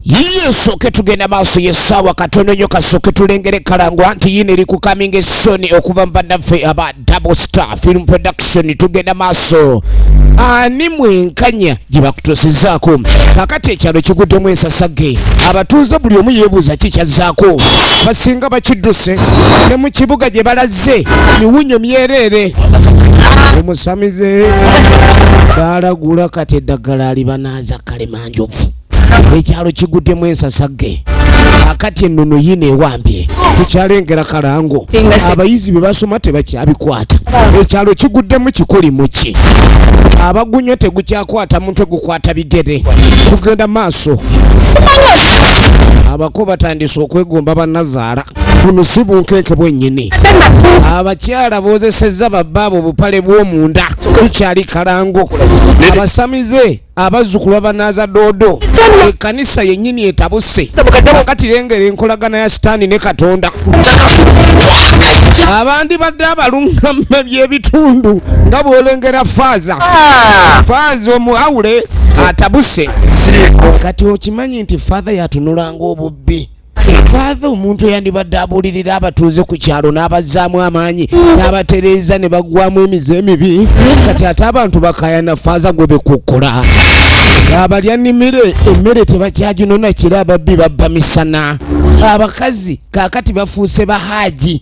yiye sooke tugenda maaso yesaawa katono nyo kasooke tulengere kalangwa nti yino eri ku coming soon okuva mubannaffe aba double star film production tugenda maaso ani mwenkanya gye bakutuusizaako kakati ekyalo kiguddemu ensasage abatuuze buli omu yeebuuza ki kyazzaako basinga bakidduse ne mu kibuga gye balaze miwunyo myereere omusamize baalagula kati eddagala alibanaaza kalemanjovu ekyalo kiguddemu ensasagge akati ennono yino ewambye tukyalengera kalango abayizi bye basoma tebakyabikwata ekyalo kiguddemu kikuli muki abagunywa tegukyakwata mutwe gukwata bigere kugenda maaso abako batandise okwegomba banazaala buno si bunkenke bwennyini abakyala boozesezza babbaabo obupale bw'omunda tukyali kalango abasamize abazzukulu babanaaza doodo ekanisa yennyini etabuse kakati lengera enkolagana ya sitaani ne katonda abandi badde abalungama byebitundu nga bwolengera faaza ah. faaza omuawule atabuse kati okimanyi nti faatha yatunulanga obubbi Father omuntu eyandibadde abuulirira abatuuze ku kyalo n'abazzaamu amaanyi n'abatereeza ne baggwamu emize emibi kati ate abantu bakayana faaza gwe bekukkola abalya nimire emmere tebakyaginona kira ababbi babba misana abakazi kaakati bafuuse bahaaji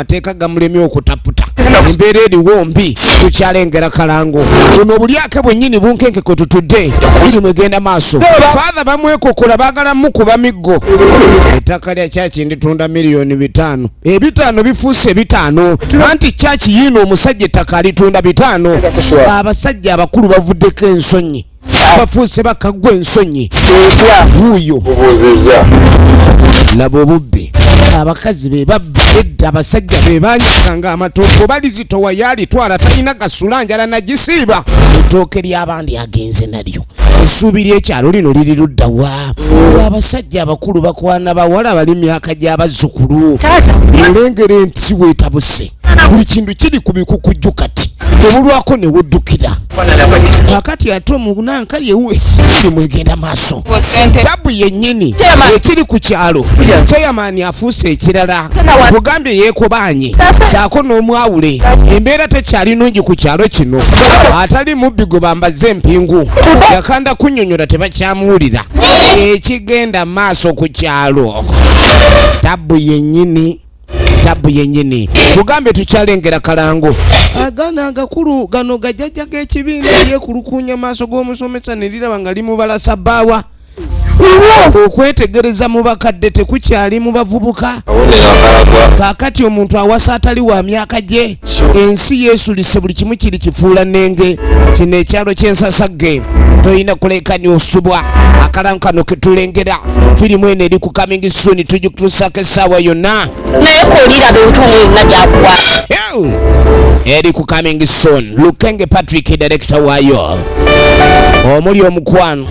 amateeka gamulemye okutaputa embeera eriwo mbi tukyalengera kalango buno obulyake bwennyini bunkenke kwe tutudde buli mwegenda maaso faatha bamwekokola baagala mukuba miggo ettaka lya kyaki nditunda miliyoni bitaano ebitaano bifuuse bitaano anti kyaki yiino omusajja ettaka alitunda bitaano abasajja abakulu bavuddeko ensonyi bafuuse bakaggwa ensonyi wuuyo laba obubbi abakazi be babbi edda abasajja be banyakanga amatooke balizitowa yalitwala talina gasula njala nagisiiba ettooke ly'abandi agenze nalyo essuubi ly'ekyalo lino liri ludda wa abasajja abakulu bakwana bawala bali myaka gy'abazzukulu olengere nti weetabuse buli kintu kiri ku bikukujju kati obulwako ne weddukira akati ate omunanka yewe kimwegenda maaso tabu yennyini ekiri ku kyalo ceyamaani afuuse ekirala bugambye yeekobanye saako n'omwawule embeera tekyali nungi ku kyalo kino atali mubbi gwe bambaze empingu yakanda kunyonyola tebakyamuwulira ekigenda maaso ku kyalo tabu yennyini tabu yenyini mugambye tukyalengera kalango agana agakulu gano gajajja g'ekibiina yekulukunya maaso g'omusomesa neriraba nga limubala sabbaawa okwetegereza mu bakadde tekukyali mu bavubuka kakati omuntu awasa atali wa myaka gye ensi yesulise buli kimu kiri kifuula nenge kino ekyalo kyensasagge tolina kulekani osubwa akalamu kano ketulengera firimu eno eri ku coming soon tugikutusako essaawa yonna naye kolira bintu mwena gyakuwa eri ku coming soon lukenge patrick direkita waayo omuli omukwano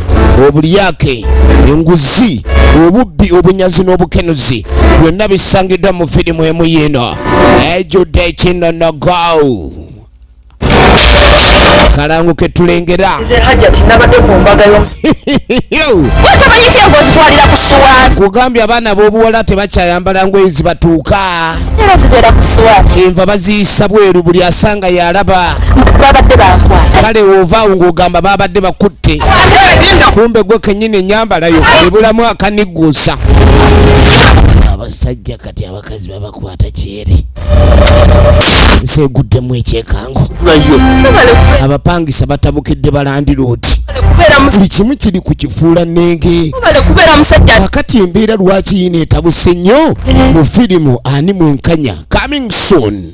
obulyake enguzi obubbi obunyazi n'obukenuzi byonna bisangiddwa mu firimu emu yiino ejjudde ekinonogo kalangu ketulengera kugambye abaana b'obuwala tebakyayambala ngoye zibatuuka enva baziyisa bweru buli asanga yalaba kale wovaawo ng'ogamba babadde bakutte kumbe gwe kenyini enyambalayo ebulamu akanigguusa abasajja kati abakazi babakwata kyere nsi eguddemu ekyekango abapangisa batabukidde balandiroodi buli kimu kiri ku kifuula nenge kakati embeera lwaki yina etabuse nnyo mu firimu ani mwenkanya coming soon